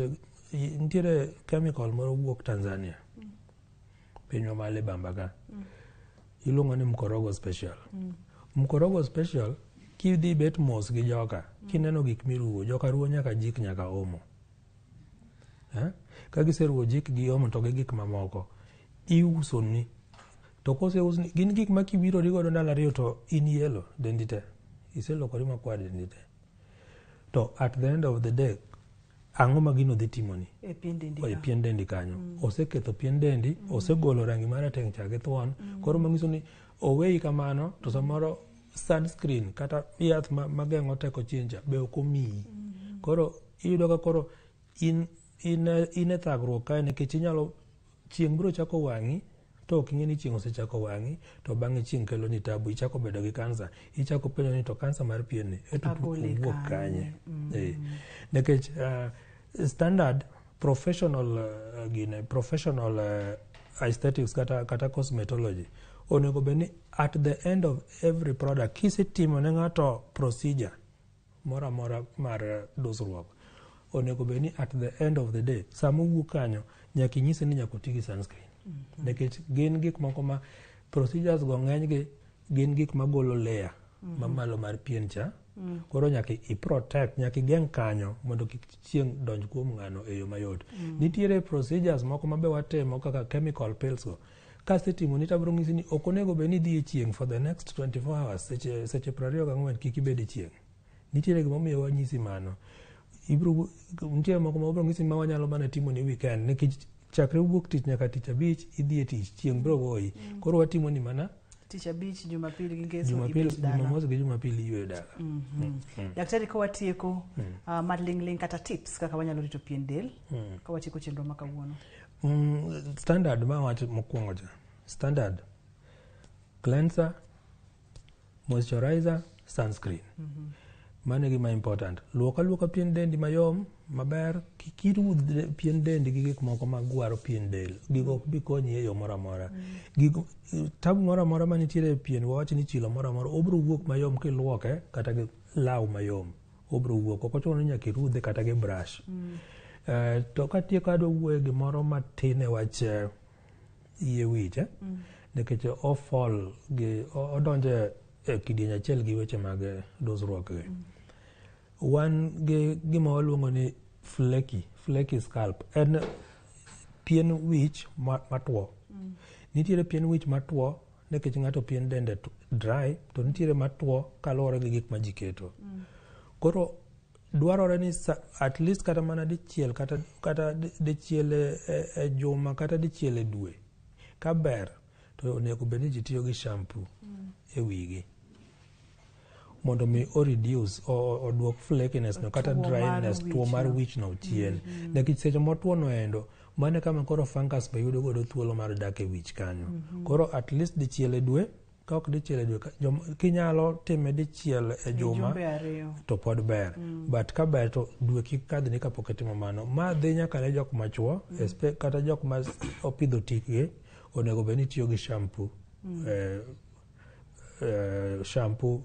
nitiere chemical moro wuok tanzania mm. pinywa ma libamba ka mm. iluongo ni mkorogo special mm. mkorogo special kidhi bet mos gi joka mm. kineno gik miruwo joka ruwo nyaka jik nyaka omo eh? ka giseruwo jik gi omo to gi gik mamoko iusoni to koseusni gin gik ma kiwirori godo ndalo ariyo to in yelo dendi te iselokori makwar dendi te To at the end of the day, ang'o ma gino dhi timoni e pien dendi e pien dendi kanyo mm. oseketho pien dendi mm. osegolo rangi mar rateng' cha gi thuon mm. koro manyiso ni oweyi kamano to samoro sunscreen kata yath mageng'o teko chinja be ok omiyi mm. koro iyudo ka koro in, in, in e thagruok kae nikech inyalo chieng' biro chako wang'i To ok ing'e ni chieng' osechako wang'i to bang'e chieng' kelo ni tabu, ichako bedo gi kansa, ichako penjo ni to kansa mar pien ni e tutu owuok kanye? Mm. Eh, nekech uh, ah, standard professional uh, gine, professional uh, aesthetics kata, kata cosmetology onego bed ni at the end of every product kisetimo ne ng'ato procedure moro amora mar eh, dusruok onego bed ni at the end of the day sama owuok kanyo nyaka inyise ni nyaka oti gi sunscreen mhm. nikech gin gik moko ma procedures go ng'enygi gin gik magolo layer mhm. mamalo mar pien cha mm. koro nyaka iprotect nyaka igeng' kanyo mondo kik chieng' donj kuom ng'ano e yo mayot mm. nitiere procedures moko mabe watimo kaka chemical pills go Kasetimo ni tabro ng'isi ni ok onego bed ni idhi e chieng' for the next 24 hours seche seche 24 kik ibed e chieng'. Nitiere gima omiyo wanyisi mano. Ibro nitie moko ma wabro ng'isi ma wanyalo mana timo ni weekend nikech chakre wuok tich nyaka tich abich idhi e tich chieng' bro goyi. Mm. Koro watimo ni mana tich abich jumapil gi ngeso jumapil jumamosi gi jumapil iywe dala mm -hmm. mm -hmm. daktari ka watieko mm. uh, malingling kata tips kaka wanyalo rito pien del mm. ka watieko chenro ma kawuono Mm, standard ma wacho mokwongo cha standard cleanser moisturizer sunscreen mm -hmm. mano gima important luok aluoka pien dendi mayom maber kik iruw pien dendi gi gik moko magwaro pien del gigo ok bi konyi e yo moro amora gigo tabu moro amora manitiere e pien wawach ni chilo moro amora obiro wuok mayom kiluoke kata gi law mayom obro wuok ok ochuno ni nyaka irudhe kata gi brush mm. uh, to katieko adwa wuoye gimoro matin e wach eh, yie wich eh? mm. nikech ofol gi odonje e kidieny achiel gi weche mag dusruok gi mm. wan gi gima waluongo ni flecky flecky scalp en pien wich matwo mm. nitiere pien wich matwo Nikech ng'ato pien dende dry to nitiere matwo kaluwore gi gik ma ji keto. Mm. Koro dwarore ni at least kata mana dichiel kata, kata dichiel e, e, e juma kata dichiel e dwe kaber to onego bed ni ji tiyo gi shampoo mm. e wigi. mondo mi o reduce oduok flakiness no kata dryness tuo mar wich no chien mm -hmm. nikech seche motuo no endo mane kama koro fungus be yudo godo thuolo mar dak e wich kanyo mm -hmm. koro at least dichiel e dwe ka ok dichiel e dwe kinyalo time dichiel e juma to pod ber mm. but ka ber to dwe kik kadhni kapok itimo mano ma dhi nyaka ne jok machuo mm. kata jok ma opidho tikgi onego bed ni tiyo gi shampoo mm. eh, uh, shampoo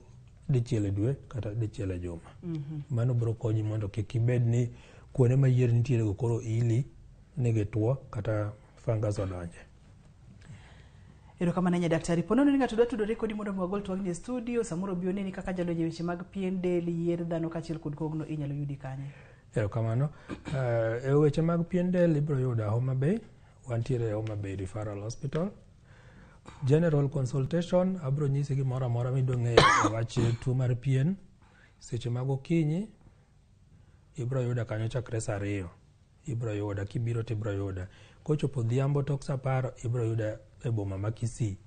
dichiel e dwe kata dichiel e juma mm -hmm. mano biro konyi mondo kik ibed ni kuonde ma yier nitiere go koro ili ni gitwo kata fungus odonje erokamano nya daktari ponono ni ng'ato dwa tudore kodi mondo mi wagol twagni e studio samoro bi oneni kaka jalony e weche mag pien del yier dhano kaachiel kod kogno inyalo yudi kanye erokamano uh, e weche mag pien del ibiro yuda homa bay wantiere e homa bay referral hospital General consultation abro nyisi gimoro amora midwa ng'eyo e wach tuo mar pien seche mag okinyi ibro yuda kanyo chakre saa ariyo ibro yuda kibiro to ibro yuda kochopo odhiambo tok saa apar ibro yuda e boma ma Kisii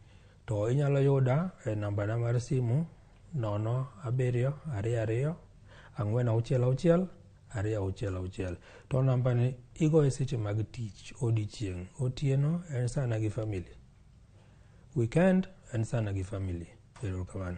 to inyalo yuda e nambana mar simu nono abiriyo ariyo ariyo ang'wen auchiel auchiel ariyo auchiel auchiel to namba ni igoye seche mag tich odiechieng' otieno en sana gi family weekend en sana gi family erokamano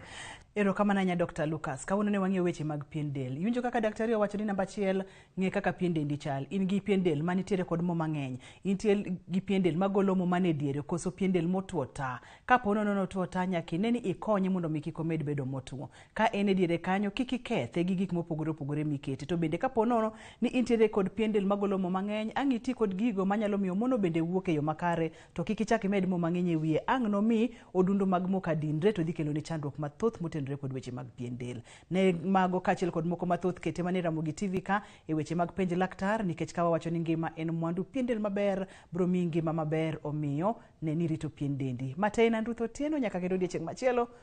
erokamano ahinya dr lucas kawuono ne wang'iyo weche mag pien del iwinjo kaka daktari owacho ni namba achiel ng'e kaka pien dendi chal in gi pien del ma nitiere kod mo mang'eny intie gi pien del magolo mo man e diere koso pien del motwo ta kapo nono notwo ta nyaka ine ni ikonye mondo mi kik omed bedo motwo Ka en e diere kanyo, kik ikethe gi gik mopogore opogore mikete. To bende kapo nono ni intiere kod pien del magolo mo mang'eny, ang' iti kod gigo manyalo miyo mono bende wuok e yo makare, to kik ichak imed mo mang'eny e wiye. Ang' nomi odundu mag mo ka dinre, to dhi keloni chandruok mathoth motenore kod weche mag pien del. Ne mago kaachiel kod moko mathoth kete manie Ramogi TV ka e weche mag Penj Laktar, nikech ka wawacho ni ngima en mwandu, pien del maber biro miyi ngima maber, omiyo ne ni irito pien dendi. Ma te en an Ruth Otieno, nyaka kendo odiechieng' machielo,